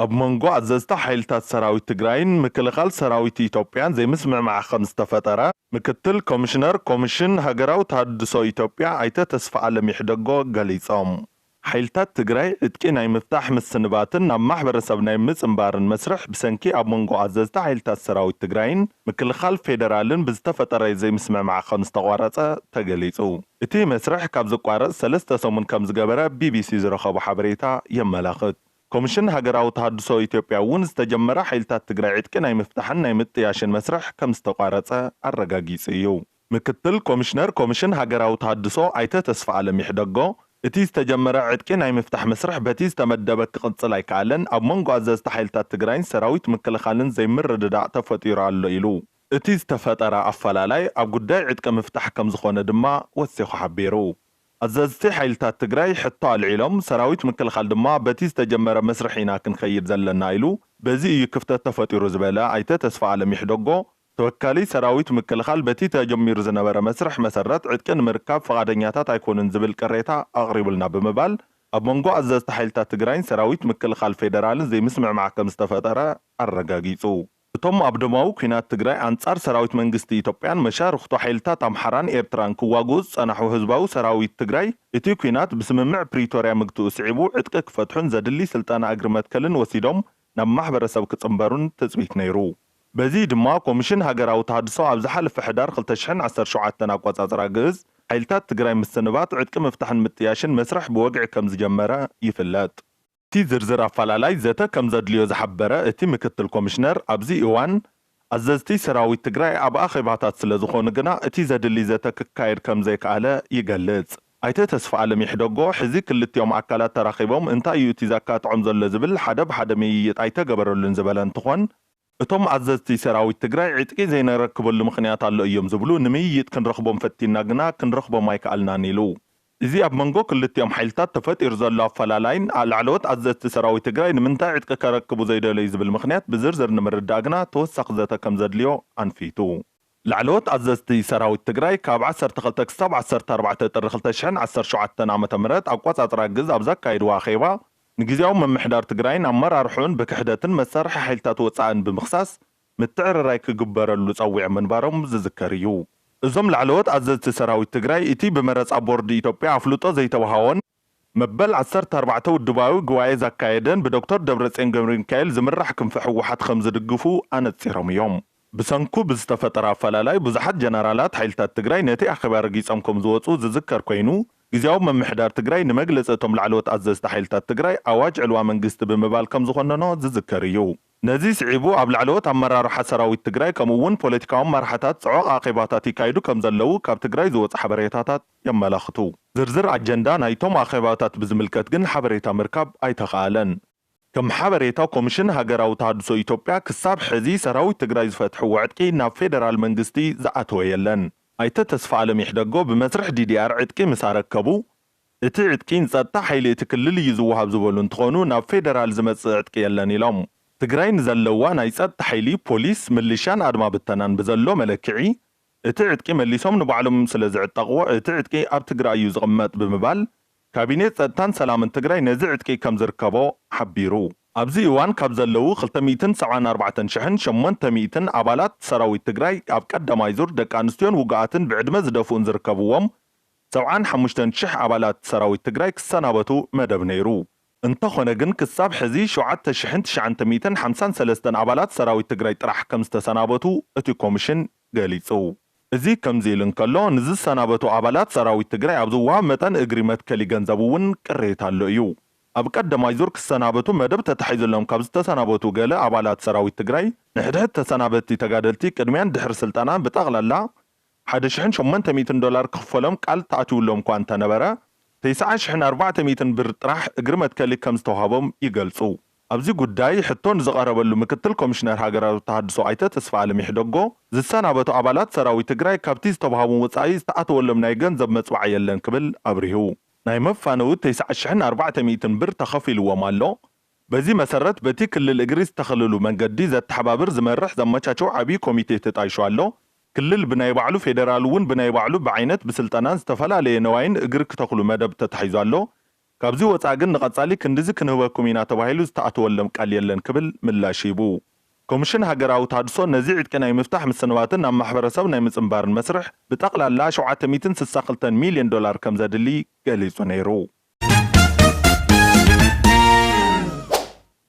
ኣብ መንጎ ኣዘዝቲ ሓይልታት ሰራዊት ትግራይን ምክልኻል ሰራዊት ኢትዮጵያን ዘይምስምዕማዕ ከምዝተፈጠረ ምክትል ኮሚሽነር ኮሚሽን ሃገራዊ ተሃድሶ ኢትዮጵያ ኣይተ ተስፋኣለም ይሕደጎ ገሊፆም። ሓይልታት ትግራይ ዕጥቂ ናይ ምፍታሕ ምስንባትን ናብ ማሕበረሰብ ናይ ምፅምባርን መስርሕ ብሰንኪ ኣብ መንጎ ኣዘዝቲ ሓይልታት ሰራዊት ትግራይን ምክልኻል ፌደራልን ብዝተፈጠረ ዘይምስምዕማዕ ከምዝተቋረፀ ተገሊፁ። እቲ መስርሕ ካብ ዝቋረፅ ሰለስተ ሰሙን ከምዝገበረ ቢቢሲ ዝረኸቦ ሓበሬታ የመላኽት። ኮሚሽን ሃገራዊ ተሃድሶ ኢትዮጵያ እውን ዝተጀመረ ሓይልታት ትግራይ ዕጥቂ ናይ ምፍታሕን ናይ ምጥያሽን መስርሕ ከምዝተቋረፀ ኣረጋጊፁ እዩ። ምክትል ኮሚሽነር ኮሚሽን ሃገራዊ ተሃድሶ ኣይተ ተስፋኣለም ይሕደጎ፣ እቲ ዝተጀመረ ዕጥቂ ናይ ምፍታሕ መስርሕ በቲ ዝተመደበ ክቕፅል ኣይከኣለን፣ ኣብ መንጎ ኣዘዝቲ ሓይልታት ትግራይን ሰራዊት ምክልኻልን ዘይምርድዳእ ተፈጢሩ ኣሎ ኢሉ። እቲ ዝተፈጠረ ኣፈላላይ ኣብ ጉዳይ ዕጥቂ ምፍታሕ ከምዝኾነ ድማ ወሲኹ ሓቢሩ። ኣዘዝቲ ሓይልታት ትግራይ ሕቶ ኣልዒሎም፣ ሰራዊት ምክልኻል ድማ በቲ ዝተጀመረ መስርሕ ኢና ክንከይድ ዘለና ኢሉ፣ በዚ እዩ ክፍተት ተፈጢሩ ዝበለ ኣይተ ተስፋኣለም ይሕደጎ፣ ተወካሊ ሰራዊት ምክልኻል በቲ ተጀሚሩ ዝነበረ መስርሕ መሰረት ዕጥቂ ንምርካብ ፍቓደኛታት ኣይኮኑን ዝብል ቅሬታ ኣቕሪቡልና ብምባል ኣብ መንጎ ኣዘዝቲ ሓይልታት ትግራይን ሰራዊት ምክልኻል ፌደራልን ዘይምስምዕማዕ ከምዝተፈጠረ ኣረጋጊፁ። እቶም ኣብ ደማዊ ኲናት ትግራይ ኣንፃር ሰራዊት መንግስቲ ኢትዮጵያን መሻርኽቱ ሓይልታት ኣምሓራን ኤርትራን ክዋግኡ ዝፀናሑ ህዝባዊ ሰራዊት ትግራይ እቲ ኲናት ብስምምዕ ፕሪቶርያ ምግትኡ ስዒቡ ዕጥቂ ክፈትሑን ዘድሊ ስልጠና እግሪ መትከልን ወሲዶም ናብ ማሕበረሰብ ክጽንበሩን ትጽቢት ነይሩ። በዚ ድማ ኮሚሽን ሃገራዊ ተሃድሶ ኣብ ዝሓለፈ ሕዳር ክልተ ሽሕን ዓሰርተ ሸውዓተን ኣቆጻጽራ ግእዝ፣ ሓይልታት ትግራይ ምስንባት፣ ዕጥቂ ምፍታሕን ምጥያሽን መስርሕ ብወግዒ ከምዝጀመረ ይፍለጥ። እቲ ዝርዝር ኣፈላላይ ዘተ ከምዘድልዮ ዝሓበረ እቲ ምክትል ኮሚሽነር፣ ኣብዚ እዋን ኣዘዝቲ ሰራዊት ትግራይ ኣብ ኣኼባታት ስለዝኾኑ ግና እቲ ዘድሊ ዘተ ክካየድ ከምዘይከኣለ ይገልጽ። ኣይተ ተስፋኣለም ይሕደጎ፣ ሕዚ ክልቲኦም ኣካላት ተራኺቦም እንታይ እዩ እቲ ዘካትዖም ዘሎ ዝብል ሓደ ብሓደ ምይይጥ ኣይተገበረሉን ዝበለ እንትኾን፣ እቶም ኣዘዝቲ ሰራዊት ትግራይ ዕጥቂ ዘይነረክበሉ ምኽንያት ኣሎ እዮም ዝብሉ፣ ንምይይጥ ክንረኽቦም ፈቲንና ግና ክንረኽቦም ኣይከኣልናን ኢሉ። እዚ ኣብ መንጎ ክልቲኦም ሓይልታት ተፈጢሩ ዘሎ ኣፈላላይን ላዕለዎት ኣዘዝቲ ሰራዊት ትግራይ ንምንታይ ዕጥቂ ከረክቡ ዘይደለዩ ዝብል ምኽንያት ብዝርዝር ንምርዳእ ግና ተወሳኺ ዘተ ከምዘድልዮ ኣንፊቱ። ላዕለዎት ኣዘዝቲ ሰራዊት ትግራይ ካብ ዓሰርተ ክልተ ክሳብ ዓሰርተ ኣርባዕተ ጥሪ ክልተ ሽሕን ዓሰርተ ሸውዓተን ዓመተ ምህረት ኣቆፃፅራ ግዝ ኣብ ዘካየድዎ ኣኼባ ንግዝያዊ ምምሕዳር ትግራይን ኣመራርሕኡን ብክሕደትን መሳርሒ ሓይልታት ወፃእን ብምኽሳስ ምትዕርራይ ክግበረሉ ፀዊዖም ምንባሮም ዝዝከር እዩ። እዞም ላዕለዎት ኣዘዝቲ ሰራዊት ትግራይ እቲ ብመረፃ ቦርድ ኢትዮጵያ ኣፍልጦ ዘይተውሃዎን መበል ዓሰርተ ኣርባዕተ ውድባዊ ጉባኤ ዛካየደን ብዶክተር ደብረፅዮን ገብረሚካኤል ዝምራሕ ክንፊ ህወሓት ከምዝድግፉ ኣነፂሮም እዮም። ብሰንኩ ብዝተፈጠረ ኣፈላላይ ብዙሓት ጀነራላት ሓይልታት ትግራይ ነቲ ኣኼባ ረጊፆም ከምዝወፁ ዝዝከር ኮይኑ ግዝያዊ ምምሕዳር ትግራይ ንመግለፂ እቶም ላዕለዎት ኣዘዝቲ ሓይልታት ትግራይ ኣዋጅ ዕልዋ መንግስቲ ብምባል ከምዝኾነኖ ዝዝከር እዩ። ነዚ ስዒቡ ኣብ ላዕለዎት ኣመራርሓ ሰራዊት ትግራይ ከምኡ እውን ፖለቲካዊ ኣመራሓታት ፅዑቕ ኣኼባታት ይካይዱ ከምዘለዉ ካብ ትግራይ ዝወፁ ሓበሬታታት የመላኽቱ። ዝርዝር ኣጀንዳ ናይቶም ኣኼባታት ብዝምልከት ግን ሓበሬታ ምርካብ ኣይተኽኣለን። ከም ሓበሬታ ኮሚሽን ሃገራዊ ተሃድሶ ኢትዮጵያ ክሳብ ሕዚ ሰራዊት ትግራይ ዝፈትሕዎ ዕጥቂ ናብ ፌደራል መንግስቲ ዝኣተወ የለን። ኣይተ ተስፋኣለም ይሕደጎ ብመስርሕ ዲዲኣር ዕጥቂ ምስ ኣረከቡ እቲ ዕጥቂ ንፀጥታ ሓይሊ እቲ ክልል እዩ ዝወሃብ ዝበሉ እንትኾኑ ናብ ፌደራል ዝመፅእ ዕጥቂ የለን ኢሎም። ትግራይ ንዘለዋ ናይ ፀጥታ ሓይሊ፣ ፖሊስ፣ ምልሻን ኣድማ ብተናን ብዘሎ መለክዒ እቲ ዕጥቂ መሊሶም ንባዕሎም ስለዝዕጠቕዎ እቲ ዕጥቂ ኣብ ትግራይ እዩ ዝቕመጥ ብምባል ካቢኔ ፀጥታን ሰላምን ትግራይ ነዚ ዕጥቂ ከምዝርከቦ ሓቢሩ። ኣብዚ እዋን ካብ ዘለዉ ክልተ ሚእትን ሰብዓን ኣርባዕተን ሽሕን ሸሞንተ ሚእትን ኣባላት ሰራዊት ትግራይ ኣብ ቀዳማይ ዙር ደቂ ኣንስትዮን ውጉኣትን ብዕድመ ዝደፍኡን ዝርከብዎም ሰብዓን ሓሙሽተን ሽሕ ኣባላት ሰራዊት ትግራይ ክሰናበቱ መደብ ነይሩ። እንተኾነ ግን ክሳብ ሕዚ ሸውዓተ ሽሕን ትሽዓንተ ሚእትን ሓምሳን ሰለስተን ኣባላት ሰራዊት ትግራይ ጥራሕ ከምዝተሰናበቱ እቲ ኮሚሽን ገሊፁ። እዚ ከምዚ ኢሉ እንከሎ ንዝሰናበቱ ኣባላት ሰራዊት ትግራይ ኣብ ዝወሃብ መጠን እግሪ መትከሊ ገንዘብ እውን ቅሬታ ኣሎ እዩ። ኣብ ቀደማይ ዙር ክሰናበቱ መደብ ተታሒዙሎም ካብ ዝተሰናበቱ ገለ ኣባላት ሰራዊት ትግራይ ንሕድሕድ ተሰናበትቲ ተጋደልቲ ቅድሚያን ድሕሪ ስልጠናን ብጠቕላላ ሓደ ሽሕን ሸሞንተ ሚእትን ዶላር ክኽፈሎም ቃል ተኣትዩሎም'ኳ እንተነበረ፣ ተስዓ ሽሕን ኣርባዕተ ሚእትን ብር ጥራሕ እግሪ መትከሊ ከም ዝተውሃቦም ይገልጹ። ኣብዚ ጉዳይ ሕቶ ንዝቐረበሉ ምክትል ኮሚሽነር ሃገራዊ ተሃድሶ ኣይተ ተስፋኣለም ይሕደጎ፣ ዝሰናበቱ ኣባላት ሰራዊት ትግራይ ካብቲ ዝተብሃቦም ወጻኢ ዝተኣተወሎም ናይ ገንዘብ መጽብዓ የለን ክብል ኣብሪሁ። ናይ መፋነዊ ተስዓ ሽሕን ኣርባዕተ ሚእትን ብር ተኸፊልዎም ኣሎ፣ በዚ መሰረት በቲ ክልል እግሪ ዝተኸለሉ መንገዲ ዘተሓባብር፣ ዝመርሕ፣ ዘመቻቸው ዓብዪ ኮሚቴ ተጣይሹ ኣሎ። ክልል ብናይ ባዕሉ ፌደራል እውን ብናይ ባዕሉ ብዓይነት ብስልጠናን ዝተፈላለየ ነዋይን እግሪ ክተኽሉ መደብ ተታሒዙ ኣሎ። ካብዚ ወፃእ ግን ንቐፃሊ ክንድዚ ክንህበኩም ኢና ተባሂሉ ዝተኣተወለም ቃል የለን ክብል ምላሽ ሂቡ። ኮሚሽን ሃገራዊ ተሃድሶ ነዚ ዕጥቂ ናይ ምፍታሕ ምስንባትን ናብ ማሕበረሰብ ናይ ምፅንባርን መስርሕ ብጠቕላላ ሸውዓተ ሚእትን ስሳ ክልተን ሚሊየን ዶላር ከምዘድሊ ገሊጹ ነይሩ።